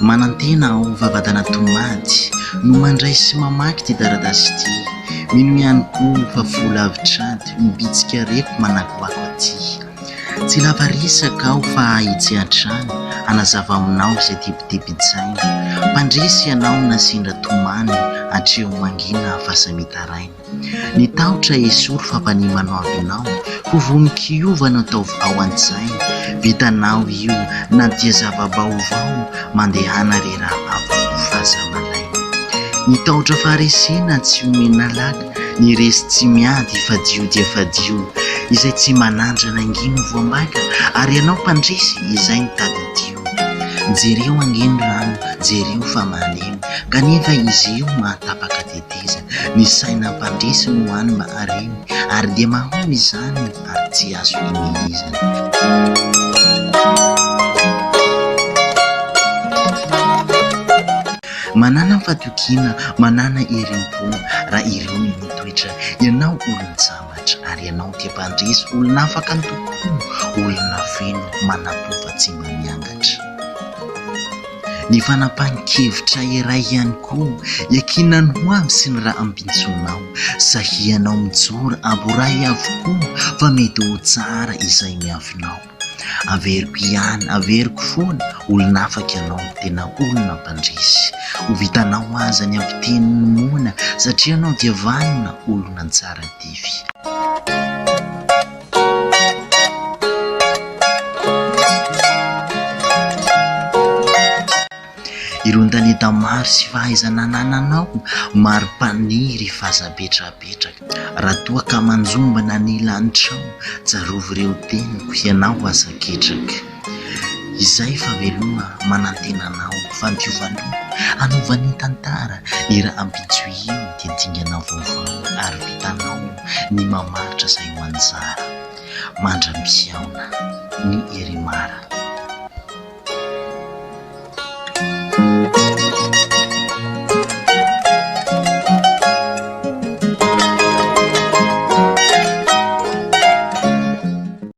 Manantena aho, vavadana tomady, no mandray sy mamaky ity taratasy ity. Mino ihany koa fa fo lavitr'ady no bitsika reko manakoako aty. Tsy lava resaka aho fa ahitsy hatrany, hanazava aminao izay tebitebin-tsaina. Mpandresy ianao na sendra tomany, hatreo mangina fa samy hitaraina. Ny tahotra esory fa mpanihy manao avy anao Ho vonon-kiova no ataovy ao an-tsaina Vitanao io na dia zava-baovao Mandehana re raha ampy fa aza malaina Ny tahotra faharesena tsy omena laka Ny resy tsy miady fadio dia fadio Izay tsy manandrana ange no voambaika Ary ianao mpandresy izay no tadidio Jereo ange ny rano jereo fa malemy Kanefa izy io mahatapaka dia tena izy, ny saina mpandresy no hany mba hareny, ary dia mahomby izany ary tsy azo hihihizana. Manana fatokiana, manana herim-po, raha ireo no mitoetra, ianao olon-tsambatra, ary ianao dia mpandresy, olona afaka antokom-po, olona feno, manam-po fa tsy mba miangatra. Ny fanapahan-kevitra iray ihany koa iankinan'ny ho avy sy ny raha ampitsonao. Sahianao mijoro aboray avokoa fa mety ho tsara izay miavinao. Averiko ihany, averiko foana, olona afaka ianao, tena olona mpandresy. Ho vitanao aza ny ampiteny ny moana satria ianao dia vanona, olona tsara dify. Ireo talenta maro sy fahaizana anananao Mari-paniry fa aza apetrapetraka Raha toa ka manjombona ny lanitrao Tsarovy ireo teniko, ianao aza ketraka. Izay fa veloma manantena anao fandiovana Hanova ny tantara ny rahampitso Io dia dingana vaovao ary vitanao Ny mamaritra izay ho anjara Mandra-pihaona ny Iremara